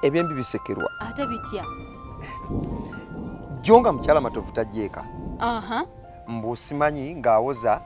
ebyembi bisekerwa ate bitya jjo nga mukyala matovu tajjeeka mbu simanyi ng'awoza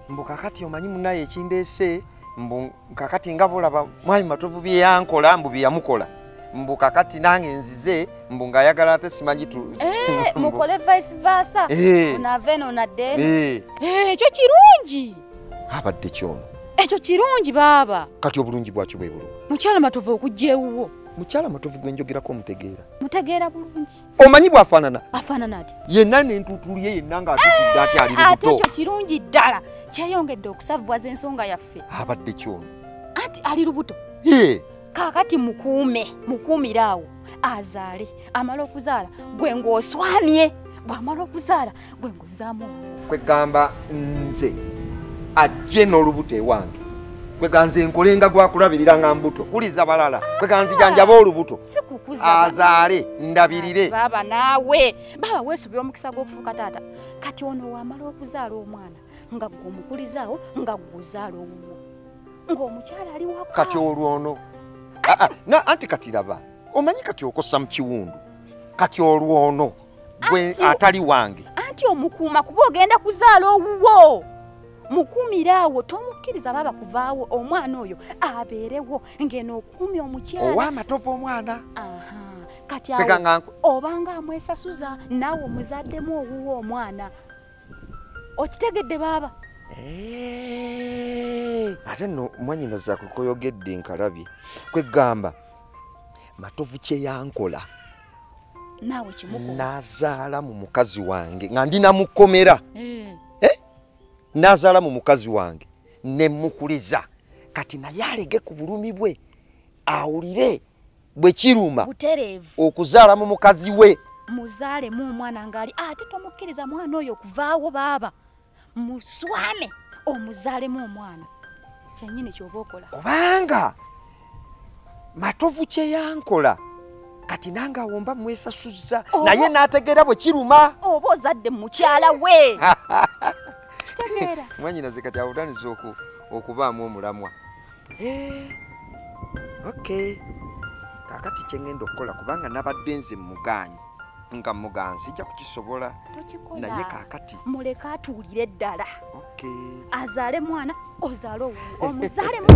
mbu kakati omanyi munaye ekindeese mbu kakati nga bolaba mwami matovu byeyankola mbu byeyamukola mbu kakati nange nzize mbu ng'ayagala ate simanyi eh, mukole vice versa eh. onave eno nadde eh. ekyo kirungi abadde kyono ekyo kirungi baaba kati obulungi bwakyo bwe bulungi mukyala matovu okujja ewuwo mukyala matovu gwe njogerako omutegeera mutegeera bulungi omanyi bwafaanana afaanana ati yenna nentuutulu ye yenna ngaatutudde ati ali lubuto ate ekyo kirungi ddala kyeyongedde okusavuwaza ensonga yaffe abadde kyono anti ali lubuto ye kakati mukuume mukuumire awo azaale amala okuzaala gwe ng'oswamye bw'amala okuzaala gwe nguzaamu kwegamba nze ajje n'olubuto ewange kweganze nkolenga gwakulabirira nga mbuto kuliza balala kweganze janjaba olubuto azaale ndabirire baba naawe baba weesubira omukisa gw'okufuuka taata kati ono wamala okuzaala omwana nga gwe omukulizaawo nga gwezaala owuwo ng'omukyala ali wa kati olwono ah, ah, anti kati laba omanyi kati okosa mu kiwundu kati olwono gwe atali wange anti omukuuma kuba ogenda kuzaala owuwo mukuumire awo tomukkiriza baba kuvaawo omwana oyo abeerewo ngeno okuumya omukyala owamatovu omwana kati obanga amwesasuza naawe omuzaddemu owuwo omwana okitegedde baaba eh, ate no mwanyina zakukoyogedde nkalabye kwegamba matovu kyeyankola naawe kimuko nazaala mu mukazi wange nga ndi namukomera eh. eh? nazaala mu mukazi wange ne mukuliza kati naye alege ku bulumi bwe awulire bwe kiruma okuzaala mu mukazi we muzaalemu omwana ng'ali ate tomukkiriza mwana oyo okuvaawo baaba muswame omuzaalemu omwana kyenyini kyoba okola kubanga matovu kyeyankola kati nange awomba mwesasuzza naye nategeera bwe kiruma oba ozadde mukyala we mwanyinaze kati awutaniza okubaamu omulamwa eh, okay kakati kyengenda okukola kubanga nabadde nze muganyi nga muganzi sijja kukisobola naye kakati muleke atuwulire ddala azaale mwana ozaale omuzaale mu